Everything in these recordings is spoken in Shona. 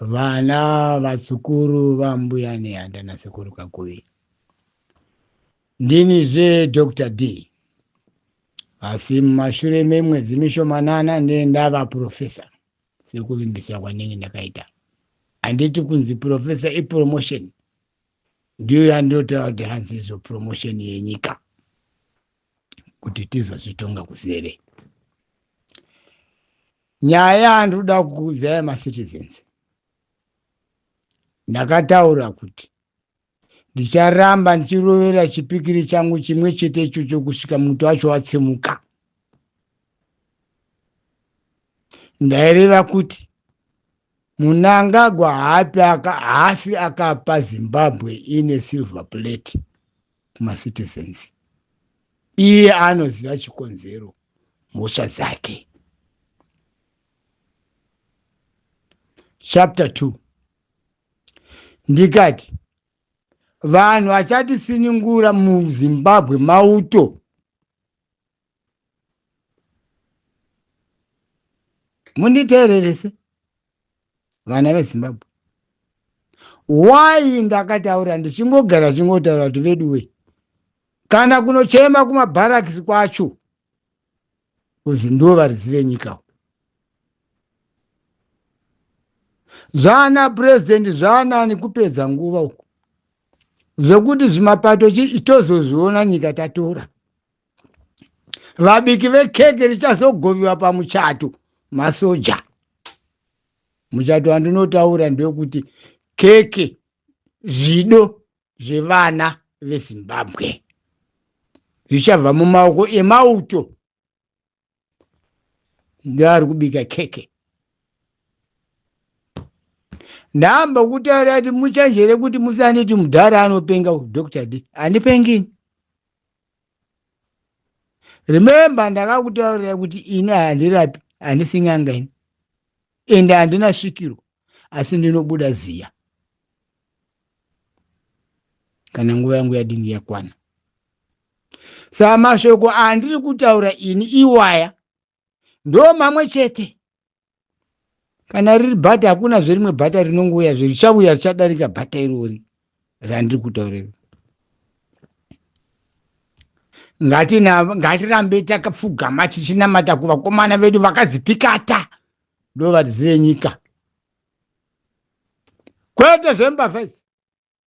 Vana vazukuru vambuya nehanda nasekuru kakuvi. Ndini zve Dr. D. Asi mumashure memwedzi mishomanana ndiye ndava professor sekuvimbisa kwanenge ndakaita. Handiti kunzi professor ipromotion ndiyo yandinotaura kuti hanzi izvo promotion yenyika kuti tizozvitonga kuzere nyaya yandiri kuda kukuudzai macitizens ndakataura kuti ndicharamba ndichirovera chipikiri changu chimwe chete ichocho kusvika muti wacho watsimuka ndaireva kuti munangagwa haapi haasi akapa zimbabwe ine silver plate kumacitizens iye anoziva chikonzero mhosva dzake chapter 2 ndikati vanhu vachatisiningura muzimbabwe mauto munditeererese vana vezimbabwe why ndakataura ndichingogara chingotaura kuti veduwe kana kunochema kumabharakisi kwacho kuzi ndiwo varidzi venyika zvaana purezidendi zvaanani kupedza nguva uku zvekuti zvimapato chii tozozviona nyika tatora vabiki vekeke richazogoviwa pamuchato masoja muchato wandinotaura ndewekuti keke zvido zvevana vezimbabwe zvichabva mumaoko emauto ndoari kubika keke ndamba kutaura kuti muchanjere kuti musaneti mudhara anopenga dr d handipengini remember ndakakutaurira kuti ini handirapi handisinganga ini ende handina svikiro asi ndinobuda ziya kana nguva yangu yadini yakwana saa mashoko andiri kutaura ini iwaya ndo mamwe chete kana riri bhata hakuna zverimwe bhata rinongouya zve richauya richadarika bhata irori randiri kutaurira ngatirambe takapfugama tichinamata kuvakomana vedu vakadzipikata ndovatizive nyika kwete zvembavha idzi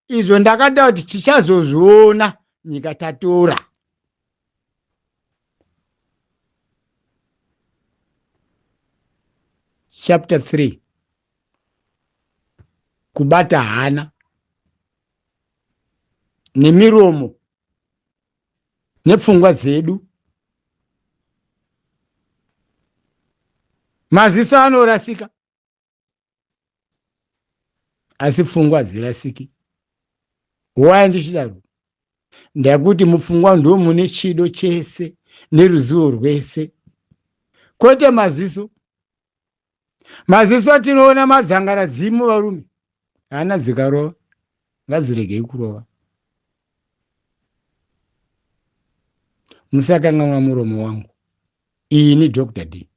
izvo ndakada kuti tichazozviona nyika tatora chapter 3 kubata hana nemiromo nepfungwa dzedu maziso anorasika asi pfungwa hadzirasiki waya ndichidaro ndakuti mupfungwa ndo mune chido chese neruzivo rwese kwete maziso maziso atinoona madzangara dzimu varume hana dzikarova ngadziregei kurova musakanganwa muromo wangu ini dr d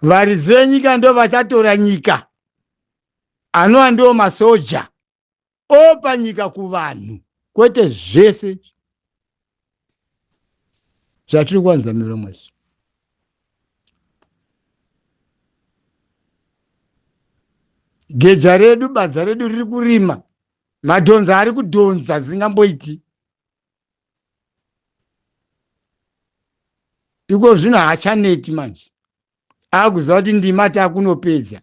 varidzi venyika ndo vachatora nyika anova ndiwo masoja opa nyika kuvanhu kwete zvese zvatiri kuwanza miromo izvi geja redu badza redu riri kurima madhonza ari kudhonza zingamboiti iko zvino haachaneti manje akuziva kuti ndima takunopedza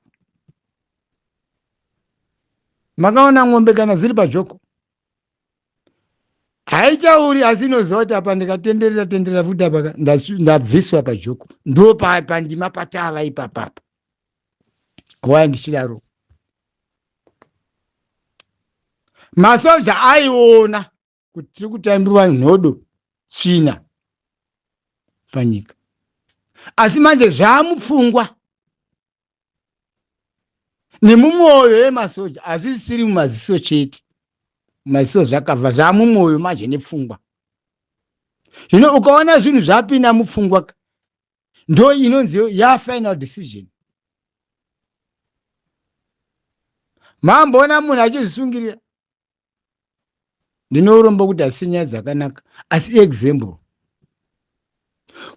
makaona ng'ombe kana dziri pajoko haitauri asi inoziva kuti apa ndikatenderera tenderera futi apa ndabviswa pajoko ndo pandima patava ipapapa why ndichidaro masoja aiona kuti tiri kutambiwa nhodo china panyika asi manje zvaamupfungwa nemumwoyo yemasoja hazvisiri mumaziso chete maziso zvakabva zvamumwoyo manje nepfungwa zvino ukaona zvinhu zvapinda mupfungwa ndo inonzi ya final decision mamboona munhu achizvisungirira ndinourombo kuti asi nyaya dzakanaka asi example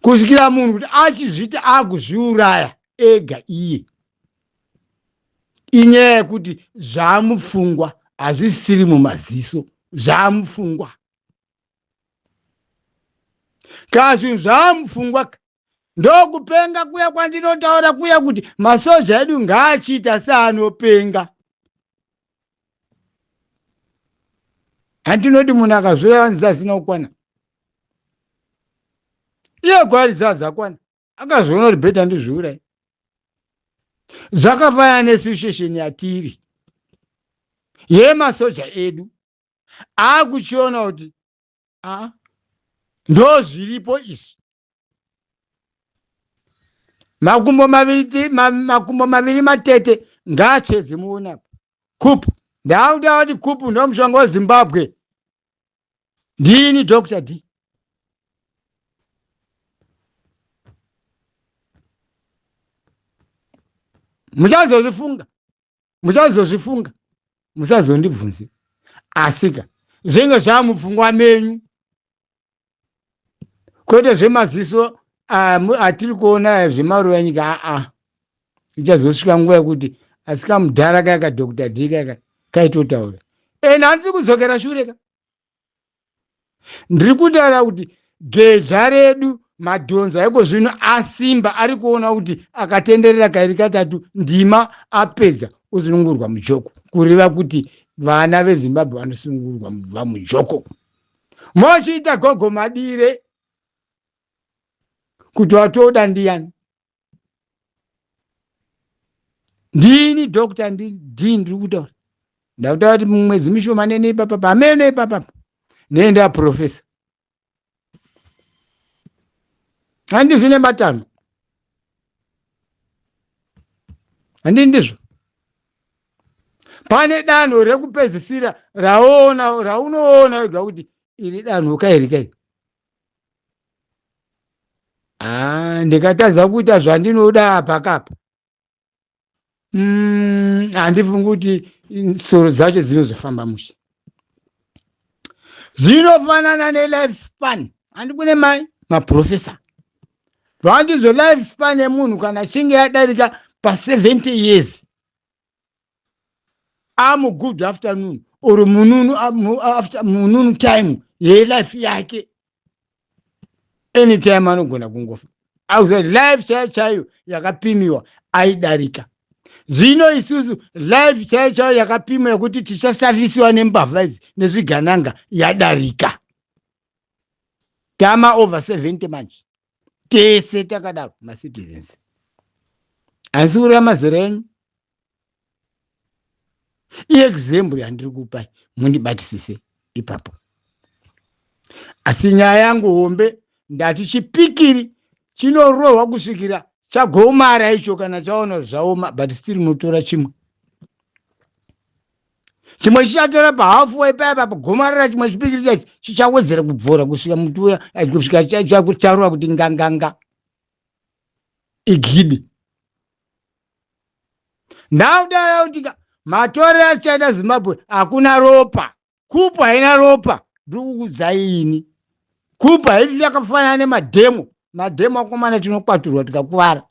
kusvikira munhu kuti achizviti akuzviuraya ega iye inyaya yekuti zvaamupfungwa hazvisiri mumaziso zvaamupfungwa ka zvinhu zvaamupfungwa ka ndokupenga kuya kwandinotaura kuya kuti masoja edu ngaachiita seanopenga handinoti munhu akazvura vanzi asina kukwana iye kwaari dzazakwana akazviona kuti bhedha ndizviurai zvakafanana nesituation yatiri yemasoja edu akuchiona kuti aa ndo zviripo izvi makumbo maviri ma, makumbo maviri matete ngaachedze muona kupu ndaakuda kuti kupu ndo mushonga wezimbabwe ndini dr d muchazozvifunga muchazozvifunga musazondibvunze asika zvinge zvamupfungwa menyu kwete zvemaziso ah, atiri kuona zvemaruva enyika aa ichazosvika nguva yekuti asika mudhara kaya kadokta d kaya kaitotaura ende handisi kudzokera shure ka ndiri kutaura kuti geja redu madhonza eko zvino asimba ari kuona kuti akatenderera kairi katatu ndima apedza osunungurwa mujoko kureva kuti vana vezimbabwe vanosunungurwa mubva mujoko mochiita gogo madire kuti watoda ndiyani ndini doctor ndini ndiri kutaura ndakutaura kuti mwedzi mishoma nene ipapa pamene ipapa nene ndaprofesa handi zvine matano handi ndizvo pane danho rekupedzisira raona raunoona wega kuti iri danho kairi kairi Ah, ndikatadza kuita zvandinoda apa kapa Mm, handifungi kuti soro dzacho dzinozofamba mushe zvinofanana nelife span handikune mai maprofesa zvandizvo life span yemunhu kana achinge yadarika pa70 years amu good afternoon or mununu after mununu time yelife yake anytime anogona kungofa ausa life chaiyo chaiyo yakapimiwa aidarika zvino isusu life chaiyo chaiyo yakapimwa yekuti tichasafisiwa nembavha idzi nezvigananga yadarika tama over 70 manje tese takadaro macitizens asi kureva mazera enyu iexample yandiri kupai mundibatisise ipapo asi nyaya yangu hombe ndati chipikiri chinorohwa kusvikira chagomara icho kana chaona zvaoma but still motora chimwe chimwe chichatora pahafu waipaya papa gomarara chimwe chipikiri chachi chichawedzera kubvora kusvika muti uya kusvika chakutarura kuti nganganga igidi ndaudara kuti matore achaita zimbabwe hakuna ropa kupu haina ropa ndiri kukudzai ini kupu haisi yakafanana nemadhemo madhemo akomana tinokwaturwa tikakuvara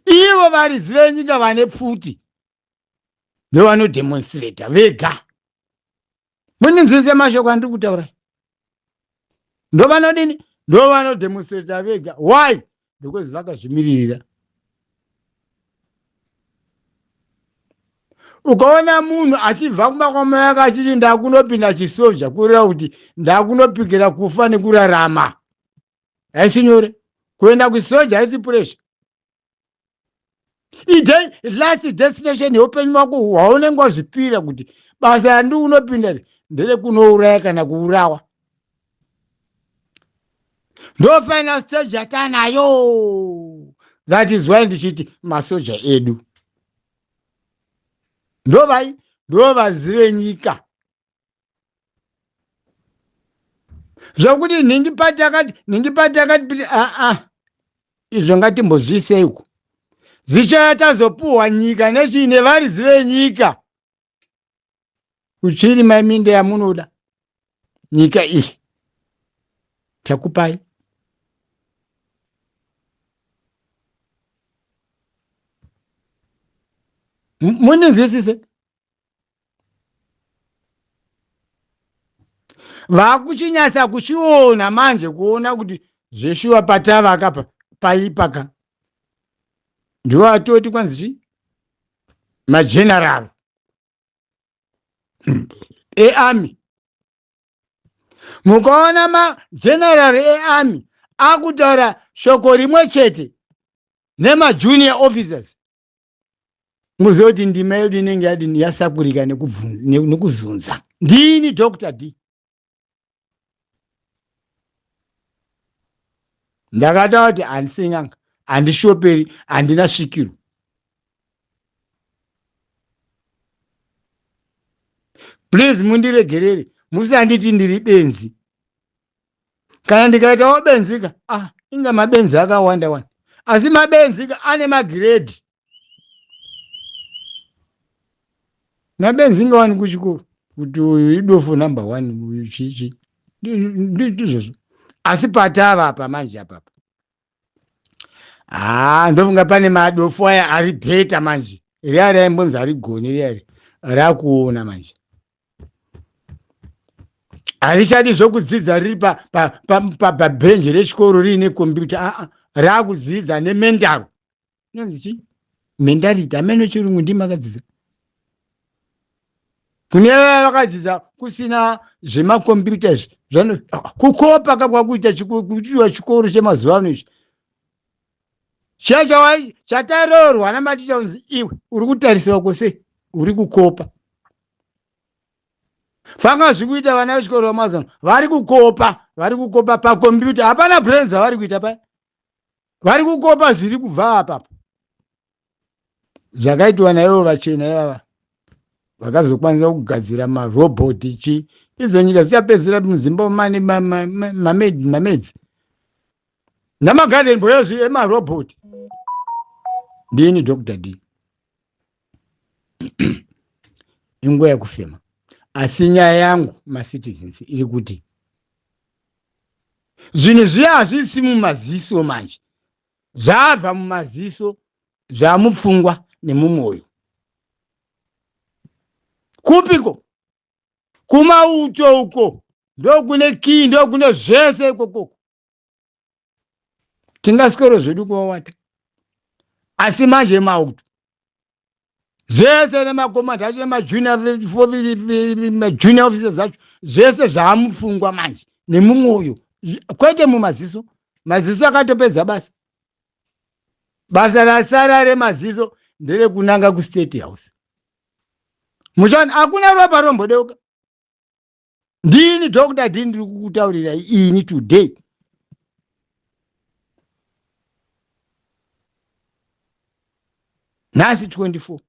ivo varidzi venyika vane pfuti ndovanodemonstrata vega mundinzwise mashoko andiri kutaura ndovanodini ndovanodemonstrata vega why because vakazvimiririra ukaona munhu achibva kumba kwamai ake achiti ndakunopinda chisozha kureva kuti ndakunopikira kufa nekurarama haisi nyore kuenda kusoja haisi puresha last destination yeupenyu wako hwaunenge wazvipira kuti basa yandi unopinda nderekunouraya kana kuurawa ndo final stage yatanayo that is why ndichiti masoja edu ndovai ndovazire nyika zvokuti nhingi pati akati nhingi pati akati piti aa ah, ah. izvo ngatimbozviiseiko zvichaya tazopuhwa nyika nezviine varidzi venyika kuchiri maiminda yamunoda nyika iyi takupai muninzwisise vakuchinyatsa kuchiona manje kuona kuti zveshuwa patava akapa paipa ka ndiwo atoti kwanzi chii mageneral earmy mukaona mageneral earmy akutaura shoko rimwe chete nemajunior officers muzive kuti ndima yedu inenge yadini yasakurika nekuzunza ndini dr d ndakataura kuti handisinganga handishoperi handina svikiro please mundiregerere musanditi ndiri benzi kana ndikaitawo benzika ah, inga mabenzi akawanda wani asi mabenzika ane magiredhi mabenzi inga wani kuchikoro kuti uyu idofo number one uyu chichi ndizvozvo asi patava apa manje apapa haa ndofunga pane madofo aya ari beta manje riya raimbonzi arigoni riya ri rakuona manje harichadi zvokudzidza riri pabhenji rechikoro riine kombiyuta aa rakudzidza nemendaro inonzi chii mentality ameno chirungu ndimi akadzidza kune vaya vakadzidza kusina zvemakombiyuta izvi zvano kukopa ka kwakuita kuchiwa chikoro chemazuva ano izvi chiya chawai chataroorwa namaticha unzi iwe uri kutarisirwa kwose uri kukopa fanga zviri kuita vana vechikoro vamazuva ano vari kukopa vari kukopa pakombiyuta hapana brains avari kuita paya vari kukopa zviri kubva apapo zvakaitwa naivo vachena ivava vakazokwanisa kugadzira marobhoti chi idzo nyika dzichapedzera muzimba mane mamedzi ma, ma, ma, namagarden boyozvi emarobhoti ndini dr d inguva yekufema asi nyaya yangu macitizens iri kuti zvinhu zviya hazvisi mumaziso manje zvabva mumaziso zvamupfungwa nemumwoyo kupiko kumauto uko ndokune kii ndokune zvese ikokoko tingasikoro zvedu kuvawata asi manje mauto zvese nemakomand acho nemajunior officers acho zvese zvaamupfungwa manje nemumwoyo kwete mumaziso maziso akatopedza basa basa rasara remaziso nderekunanga kustate house muchani hakuna ropa rombodeuka ndini dhokuta dhini ndiri kukutaurira ini today nhasi 24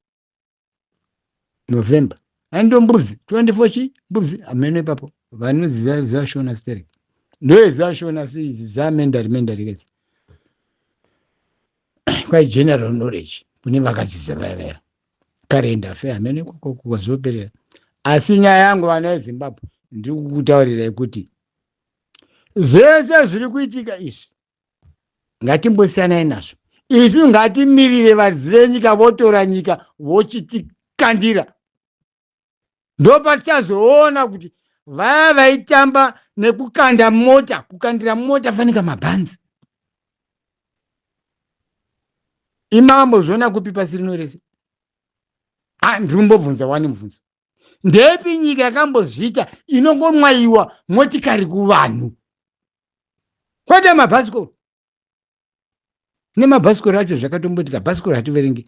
november ando mbuzi 24 chi mbuzi ameno ipapo vanoziva zvashona sterek ndoezvashona seizi zamendari mendari kezi kwai general knowledge kune vakadzidza vaya vaya karendafe hamene kwazoperera asi nyaya yangu vana yezimbabwe ndiri kukutaurirai kuti zvese zviri kuitika izvi ngatimbosiyanai nazvo isu ngatimirire varidzi venyika votora nyika vochitikandira ndopatichazoona kuti vaya vaitamba nekukanda mota kukandira mota fanika mabhanzi imambo zvoona kupi pasi rino rese ah, ndiri kumbobvunza wani mubvunzo ndepi nyika yakambozviita inongomwayiwa motikari kuvanhu kwete mabhasikoro nemabhasikoro acho zvakatombotika bhasikoro hativerengi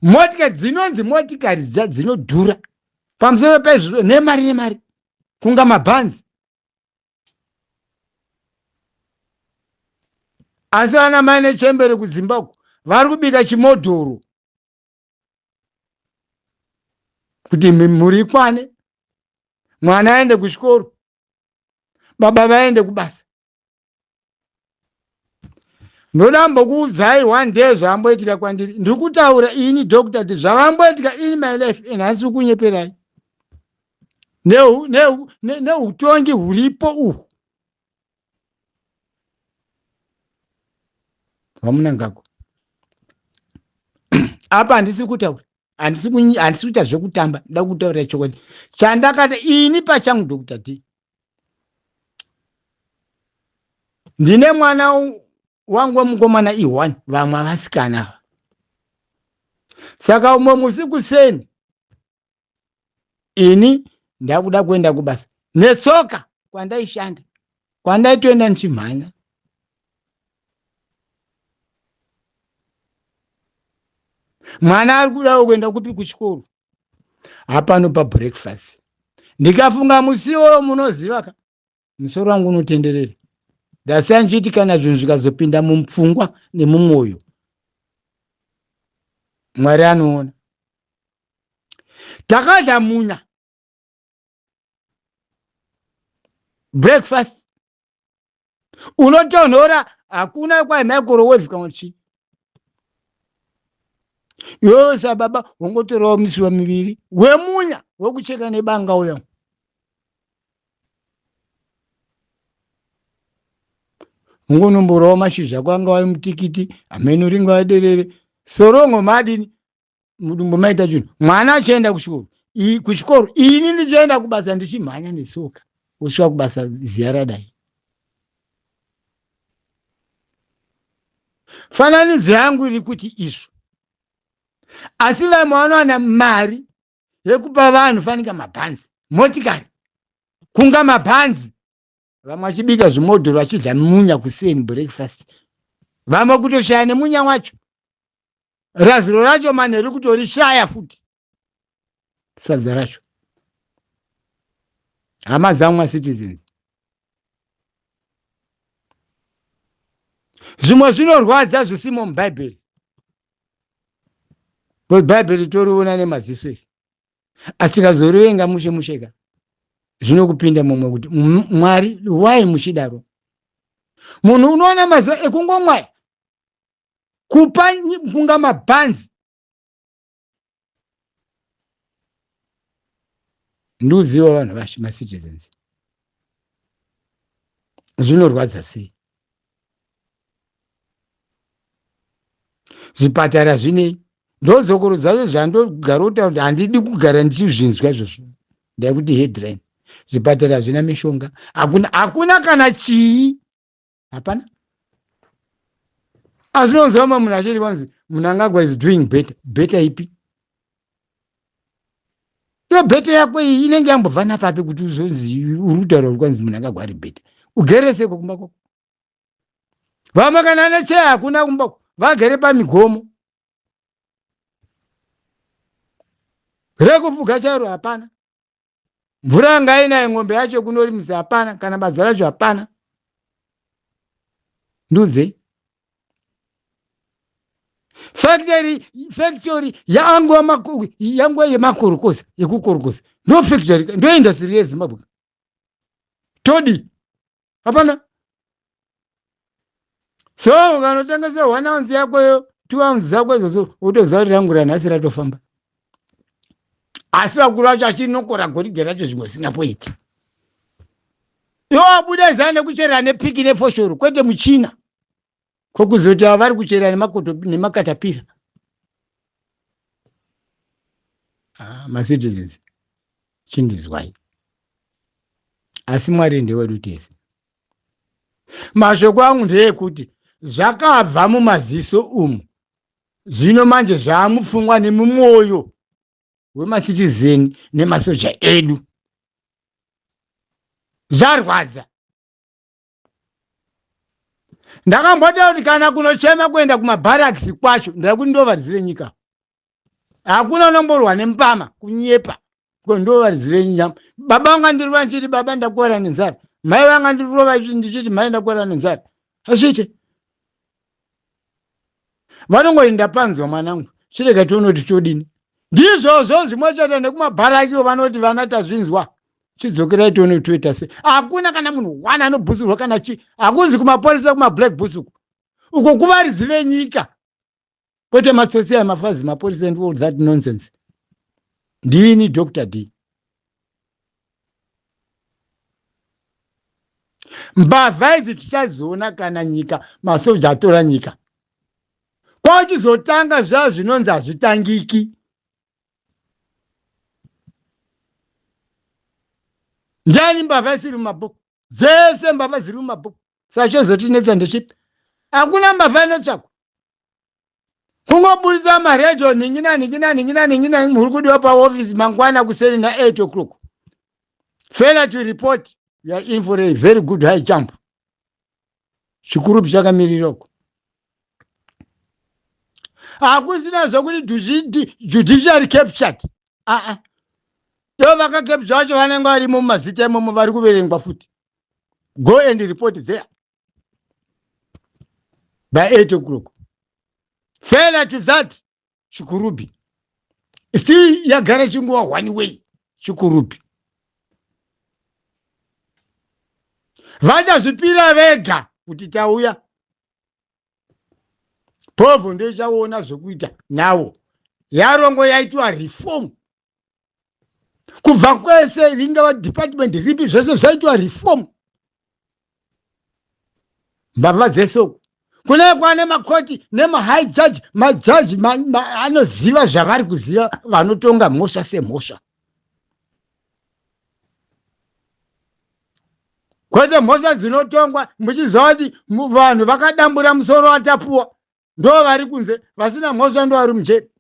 motikari dzinonzi motikari dza dzinodhura pamusoro paizvozvo nemari nemari kunga mabhanzi asi vana mai nechembere kudzimba uku vari kubika chimodhoro kuti mhuri ikwane mwana aende kuchikoro baba vaende kubasa ndoda mbokuudzai one day zvamboitika kwandiri ndiri kutaura ini doctor ti zvamamboitika in my life and handisi kunyeperai neutongi huripo uhwu vamunangagwa apa handisi kutaura handisi kuita zvekutamba nda kutaurira chokwadi chandakata ini pachangu doctor t ndine mwana wangu wemukomana ihwani vamwe avasikana ava saka umwe musi kuseni ini ndakuda kuenda kubasa netsoka kwandaishanda kwandaitoenda ndichimhanya mwana ari kudawo kuenda kupi kuchikoro hapano pabreakfast ndikafunga musiwo munoziva ka musoro wangu unotenderera ndasiya ndichiti kana zvinhu zvikazopinda mupfungwa nemumwoyo mwari anoona takadya munya breakfast unotonhora hakuna kwai microwave kana chii yosa baba wongotorawo misiwa miviri wemunya wekucheka nebanga uya ungonomborawo mashizha kwanga wai mutikiti amene uringa waderere sorongo madini mudumbu maita chinhu mwana achienda kuchikoro kuchikoro ini ndichienda kubasa ndichimhanya nesoka kusvika kubasa ziya radai fananidzo yangu iri kuti izvo asi vamwe vanowana mari yekupa vanhu fanika mabhanzi motikari kunga mabhanzi vamwe vachibika zvimodhoro vachidya munya kuseni breakfast vamwe kutoshaya nemunya wacho raziro racho manheru kutorishaya futi sadza racho hama dzangu macitizens zvimwe zvinorwadza zvisimo mubhaibheri bhaibheri toriona nemaziso iri asi tikazorivenga mushe musheka zvinokupinda mumwe kuti mwari why muchidaro munhu unoona mazuva ekungomwaya kupa mpunga mabhanzi ndiuziva vanhu vashe macitizens zvinorwadza sei zvipatara zvinei ndozokoro dzacho zvandogara kutaura kuti handidi kugara ndichizvinzwa izvozvo ndaikuti headline zvipatara hazvina mishonga hakuna hakuna kana chii hapana asi unonzwa mamwe munhu achiri vanzi munangagwa is doing better better ipi iyo bhete yako iyi inenge yambobva napapi kuti uzonzi uri kutaura uri kwanzi munhu angagwari bhete ugere seko kumba kwako vamwe kana necheya hakuna kumba ko vagere pamigomo rekufuga chairo hapana mvura yanga inayo ng'ombe yacho kunorimisa hapana kana badza racho hapana ndiudzei factory factory yangwa makuru yangwa yemakorokoza yekukorokoza ndo factory ndo industry yezimbabwe todi hapana so ukanotengesa one ounce yakoyo two ounce dzako idzodzo wotoziva kuti rangu ranhasi ratofamba asi vakuru vacho achinokora goridhe racho zvimwe zvingapoiti iwo abuda izana nekucherera nepiki nefoshoro kwete muchina ko kuzoti ava vari kuchera nemakatapira ah, macitizens chindizwai asi mwari ndewedu tese mashoko angu ndeekuti zvakabva mumaziso umu zvino manje zvaamupfungwa nemumwoyo wemasitizeni nemasoja edu zvarwadza ndakambotaura kuti kana kunochema kuenda kumabarakisi kwacho ndada kuti ndovaridzire nyika hakuna unomborwa nempama kunyepa ko ndovaridzire nyika baba vanga ndirova ndichiti baba ndakuwara nenzara mai vanga ndirova ndichiti mai ndakuwara nenzara hazviite vanongoti ndapanzwa mwanangu chirega tione kuti todini ndizvozvo zvimwe chete nekumabharakiwo vanoti vana tazvinzwa chidzokerai tione kuti toita sei hakuna kana munhu one anobhusurwa kana chi hakunzi kumapurisa kumablack bus uku uko kuvaridzi venyika kwete matsotsi aya mafazi mapurisa and all that nonsense ndini dr d mbavha idzi tichadziona kana nyika masoja atora nyika kwachizotanga zvaa zvinonzi hazvitangiki ndiani mbavha isiri mumabhuku dzese mbavha dziri mumabhuku sachozotinetsa ndechipi hakuna mbavha inotsvakwa kungoburitsa maredio nhingina nhingina nhingina nhingina muri kudiwa paofisi mangwana kuseni na8 o'clock failure to report you are in for a very good high jump chikurupi chakamirira uko hakusina zvekuti judiciary captured aa uh -uh. ivo vakakepja vacho vanenge varimo mumazita imomo vari kuverengwa futi go and report there by 8 o'clock failure to that chikurubi still yagara chinguva one way chikurubi vachazvipira vega kuti tauya povho ndoichaona zvekuita nawo yarongo yaitwa reform kubva kwese ringava department ripi zvese zvaitwa reform mbavha dzese uku kune kwane makoti nemahigh judge majaji anoziva zvavari kuziva vanotonga mhosva semhosva kwete mhosva dzinotongwa muchiziva kuti vanhu vakadambura musoro watapuwa ndo vari kunze vasina mhosva ndo vari mujeri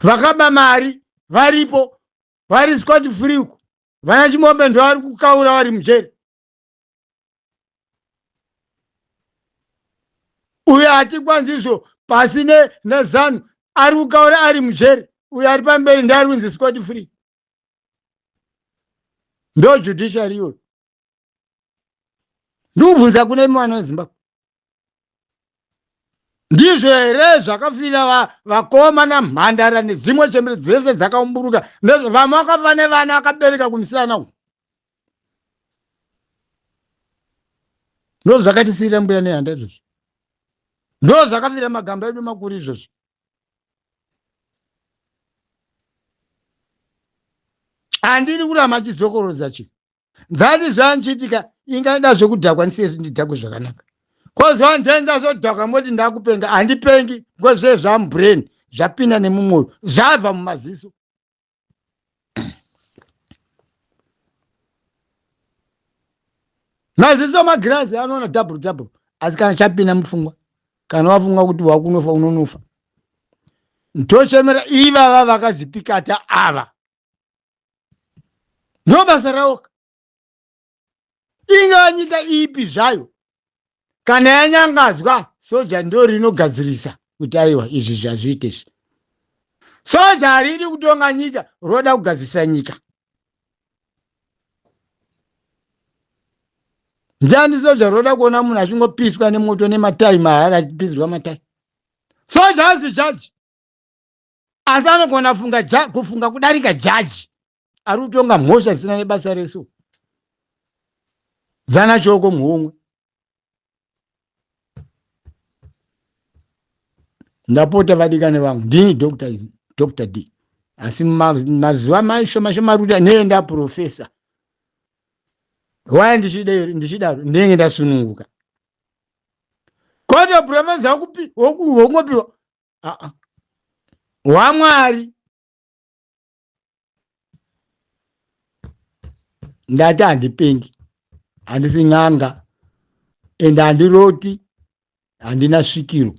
vakaba mari varipo vari scott free uku vana chimombe ndo vari kukaura vari mujeri uyo hatikwanzi izvo pasi nezanu ari kukaura ari mujeri uyo ari pamberi ndeari kunzi scott free ndo judiciary iyoyo ndikubvunza kune mwana wezimbabwe ndizvo here zvakafira vakoma namhandara nedzimwe chembere dzese dzakaumburuka vamwe vakafa nevana vakabereka kumusana uku ndo zvakatisiira mbuya nehanda izvozvo ndo zvakafira magamba edu makuru izvozvo handiri kurama chidzokorodza chii ndani zvanchiitika ingaida zvekudhakwa ndisiyesi ndidhakwe zvakanaka kozvandenza zvodhakwa moti ndakupenga handipengi ngozve zvamubrain zvapinda nemumwoyo zvabva mumaziso maziso magirazi anoona double double asi kana chapinda mupfungwa kana wafunga kuti wakunofa unonofa ndochemera ivava vakazipikata ava ndo basa rawoka ingava nyika ipi zvayo kana yanyangadzwa soja ndo rinogadzirisa kuti aiwa izvi zvazviite izvi soja haridi kutonga nyika roda kugadzirisa nyika ndiani soja roda kuona munhu achingopiswa nemoto nematai mahara achipisirwa matai soja hazi jaji asi anogona funga ja, kufunga kudarika jaji ari kutonga mhosva dzisina nebasa reso zana shoko muhomwe ndapota vadikane vangu ndini dr dr d asi mazuva mashoma shomaruta neye ndaprofesa waya ndichidaro ndenge ndasununguka koto profesa wokupi wokungopiwa aa hwamwari ndati handipengi handisi n'anga ende handiroti handina svikiro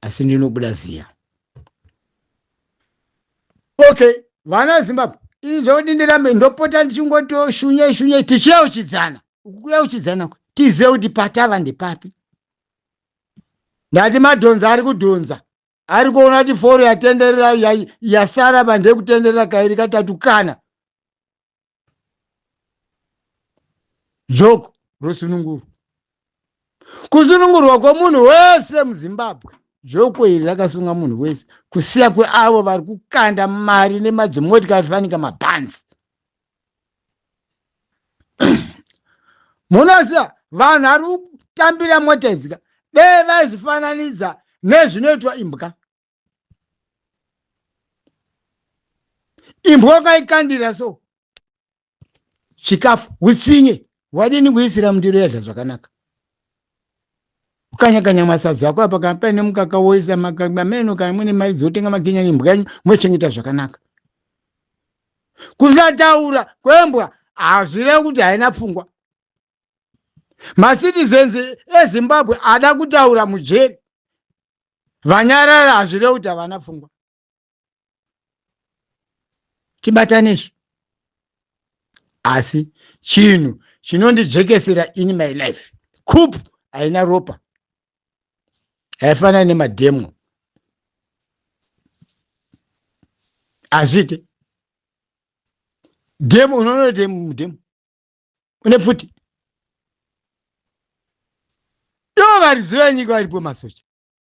asi ndinobuda ziya okay vana zimbabwe ini zvekuti ndirambe ndopota ndichingotoshunya shunya tichiyeuchidzana ukuya uchidzana tizive kuti patava ndepapi ndati madhonza ari kudhonza ari kuona kuti foro yatenderera yasara bande kutenderera kairi katatu kana joko rosunungurwa kusunungurwa kwomunhu wese muzimbabwe joko iri rakasunga munhu wese kusiya kweavo vari kukanda mari nemadzimotikari fanika mabhanzi munoziva vanhu ari kutambira mota idzika dee vaizvifananidza nezvinoitwa imbwa imbwa ukaikandira so chikafu utsinye wadini kuisira mundiro yadya zvakanaka kukanyakanya masadza ako apa kana paine mukaka woisa makaka ameno kana muine mari dzotenga makinya nembwa yenyu mochengeta zvakanaka kusataura kwembwa hazvireva kuti haina pfungwa macitizens ezimbabwe ada kutaura mujeri vanyarara hazvireva kuti havana pfungwa tibatane izvi asi chinhu chinondijekesera in my life coop haina ropa haifanani nemademo hazviite demo unonoita mudemo une pfuti do variziva nyika varipo masocha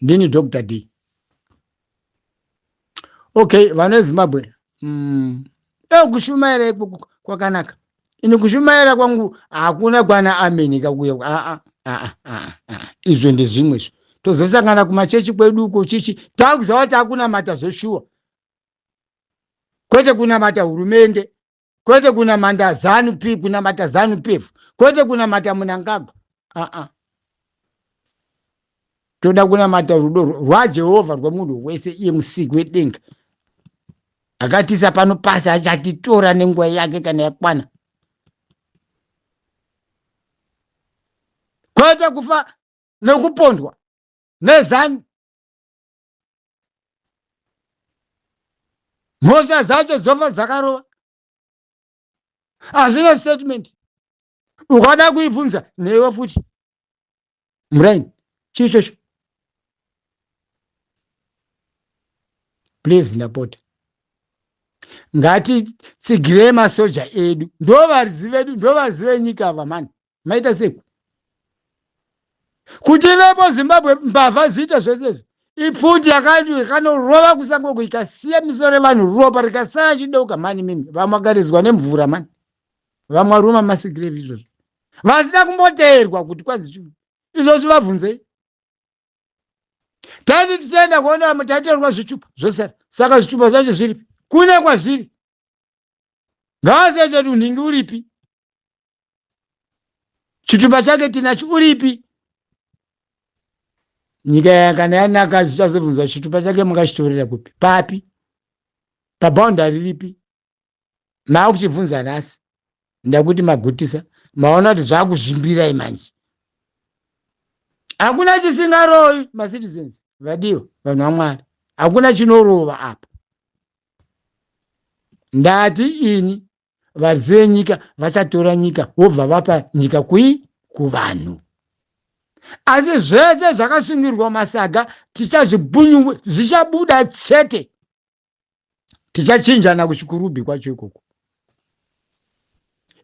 ndini dr d okay vana vezimbabwe mm. e kushumaira ikoko kwakanaka ini kushumaira kwangu hakuna kwana ameni kakuya aa aa aa aa izvo ndezvimwe izvo tozosangana kumachechi kwedu uko chichi takuziva kuti akunamata zveshuwa kwete kunamata hurumende kwete kunamata zanu p kunamata zanu pf kwete kunamata munangagwa aa toda kunamata rudo rwajehovha rwemunhu wese iye musiki wedenga akatisa pano pasi achatitora nenguva yake kana yakwana kwete kufa nekupondwa nezanu mhosva dzacho dzofa dzakarova hazvina statement ukada kuibvunza neiwe futi muraini chii chocho please ndapota ngatitsigirei masoja edu ndovaridzi vedu ndovaridzi venyika ava mani maita seku kuti vepo zimbabwe mbavha ziita zvese izvi ipfuti yakanorova kusango kuikasiya misoro yevanhu ropa rikasara chideuka mani mimi vamwagaridzwa nemvura mani vamwaruma masigirevi izvozvo vasina kumboteerwa kuti kwanzi chii izvozvi vabvunzei taiti tichienda kuona taiteerwa zvichupa zvosara saka zvichupa zvacho zviripi kune kwazviri ngavasechetu nhingi uripi chitupa chake tinacho uripi nyika yakana yanaka zichazobvunza chitupa chake makachitorera kupi papi paboundary ripi maakuchibvunza nhasi ndakuti magutisa maona kuti zvakuzvimbirai manje hakuna chisingarovi macitizens vadiwa vanhu vamwari hakuna chinorova apa ndati ini varidzi venyika vachatora nyika vobva vapa nyika kui kuvanhu asi zvese zvakasungirwa masaga tichazvibunyu zvichabuda chete tichachinjana kuchikurubhi kwacho ikoko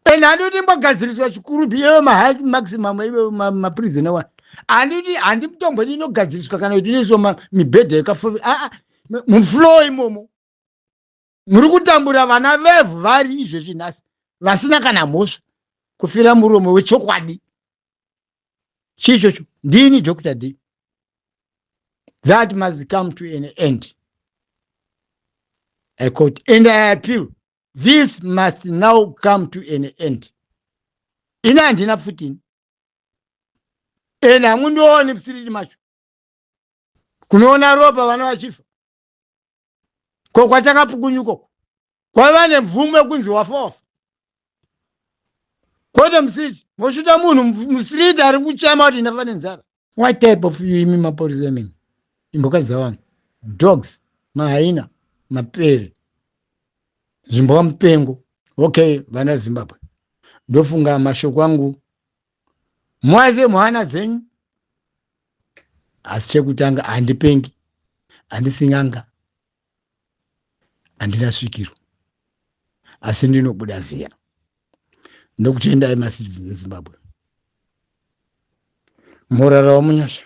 and handiti mbogadziriswa chikurubhi iyeyo mahike maximum ive maprizina wa handiti handi mitombo ini inogadziriswa kana kuti inoiswa mibhedha yekafovira aa muflow imomo muri kutambura vana vevhu vari izvezvi nhasi vasina kana mhosva kufira murume wechokwadi chii chocho ndini dr d that must come to an end i quote and i appeal this must now come to an end ini handina pfutini and hamundioni pfutini macho kunoona ropa vana vachifa ko kwatakapukunyuka uku kwaiva nemvumo yekunzi wafofa kwete musiriti mosvita munhu musiriti ari kuchema kuti ndafa nenzara what type of you imi maporisa imimi imboka dzavanhu dogs mahaina mapere zvimbwa mupengo okay vana zimbabwe ndofunga mashoko angu mwaze mwana dzenyu asi chekutanga handipengi handisinganga handina svikiro asi ndinobuda ziya ndokutendai macitizens ezimbabwe morarawo munyasha